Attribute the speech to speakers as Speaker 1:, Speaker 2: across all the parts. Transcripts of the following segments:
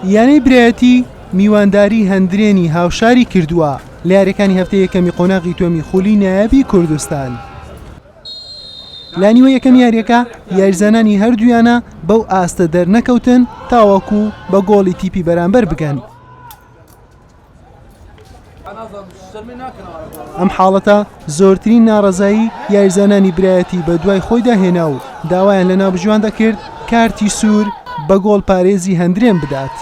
Speaker 1: یانەی برایەتی میوانداری هەندرێنی هاوشاری کردووە لە یاریەکانی هەفتە یەکەمی قۆناغی تۆمی خولی نایابی کوردستان. لانیوە یەکەم یاریەکە یاریزانانی هەردوویانە بەو ئاستە دەرنەکەوتن تاوەکو بە گۆڵی تیپی بەرامبەر بگەن. ئەم حاڵەتە زۆرترین ناڕەزایی یاریزانانی برایەتی بە دوای خۆیدا هێنا و داوایان لە ناوبژیوان دەکرد کارتی سوور بە گۆڵ پارێزی هەندرێن بدات.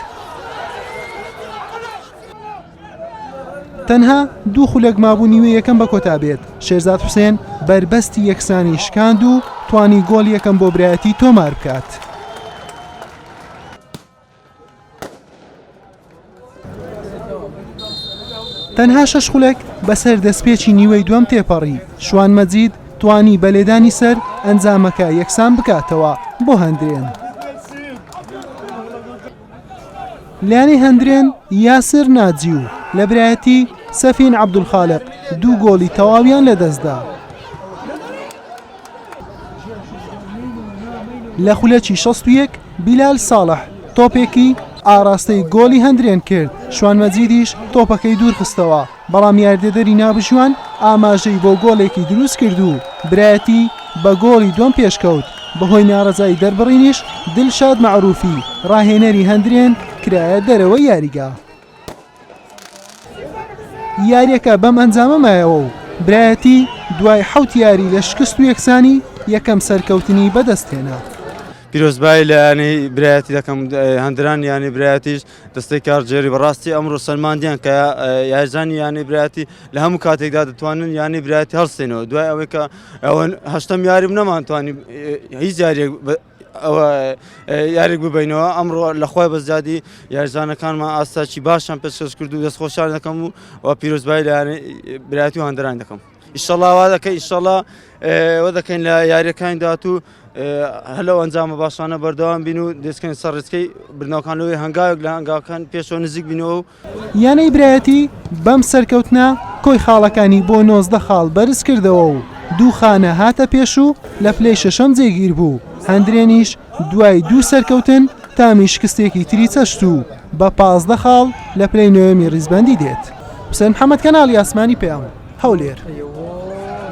Speaker 1: تەنها دوو خولەک مابوو نیوێ یەکەم بە کۆتا بێت شێرزاد حوسێن بەربەستی یەکسانی شکاند و توانی گۆڵ یەکەم بۆ برایەتی تۆمار بکات. تەنها شەش خولەک بەسەر دەستپێکی نیوەی دووەم تێپەڕی شوان مەجید توانی بە لێدانی سەر ئەنجامەکە یەکسان بکاتەوە بۆ هەندرێن. لانی هەندرێن یاسر ناجی و لە برایەتی سەفین عەبدولخالق دوو گۆڵی تەواویان لەدەستدا. لە خولەکی شەست و یەک بیلال ساڵح تۆپێکی ئاڕاستەی گۆڵی هەندرێن کرد، شوان مەجیدیش تۆپەکەی دوورخستەوە، بەڵام یاریدەدەری نابژوان ئاماژەی بۆ گۆڵێکی دروستکرد و برایەتی بە گۆڵی دووەم پێشکەوت، بەهۆی ناڕەزایی دەربڕینیش دلشاد مەعروفی راهێنەری هەندرێن کرایە دەرەوەی یاریگا. یارییەکە بەم ئەنجامە مایەوە و برایەتی دوای حەوت یاری لە شکست و یەکسانی یەکەم سەرکەوتنی بەدەستهێنا. پیرۆزبایی
Speaker 2: لە ینی برایەتی دەکەم هەندران ینی برایەتیش دەستەی کار جێری بەڕاستی ئەمڕۆ سەلماندیان کە یارزانی یانی برایەتی لە هەموو کاتێکدا دەتوانن ینی برایەتی هەڵستێنەوە دوای ئەوەی کە ئەوەن هەشتم یاریم نەمانتوانی هیچ یاریێک ئەوە یاریک ببینەوە ئەمڕۆ لەخوای بەزیادی یارزانەکانمان ئاستاکی باشیان پێشکەش کرد و دەستخۆشیان دەکەم و و پیرۆزبایی لە برایەتی و هەندران دەکەم ئیشەڵاوا دەکەی ئیشەڵا وە دەکەین لە یاریەکانی داات و هەلو ئەنجامە باشانە بەردەوام بین و دەستکەین سەرڕێسکەی بناوکان لەوەی هەنگاوێک لە هەنگاوکان پێشەوە نزیک بینەوە و یانەی برایەتی
Speaker 1: بەم سەرکەوتنە کۆی خاڵەکانی بۆ نۆزدە خاڵ بەرزکردەوە و دوو خانە هاتە پێش و لە پلەی شەشەم جێگیربوو، هەندرێنیش دوای دوو سەرکەوتن تامی شکستێکی تری چەشت و بە پازدە خاڵ لە پلەی نۆیەمی ریزبەندی دێت.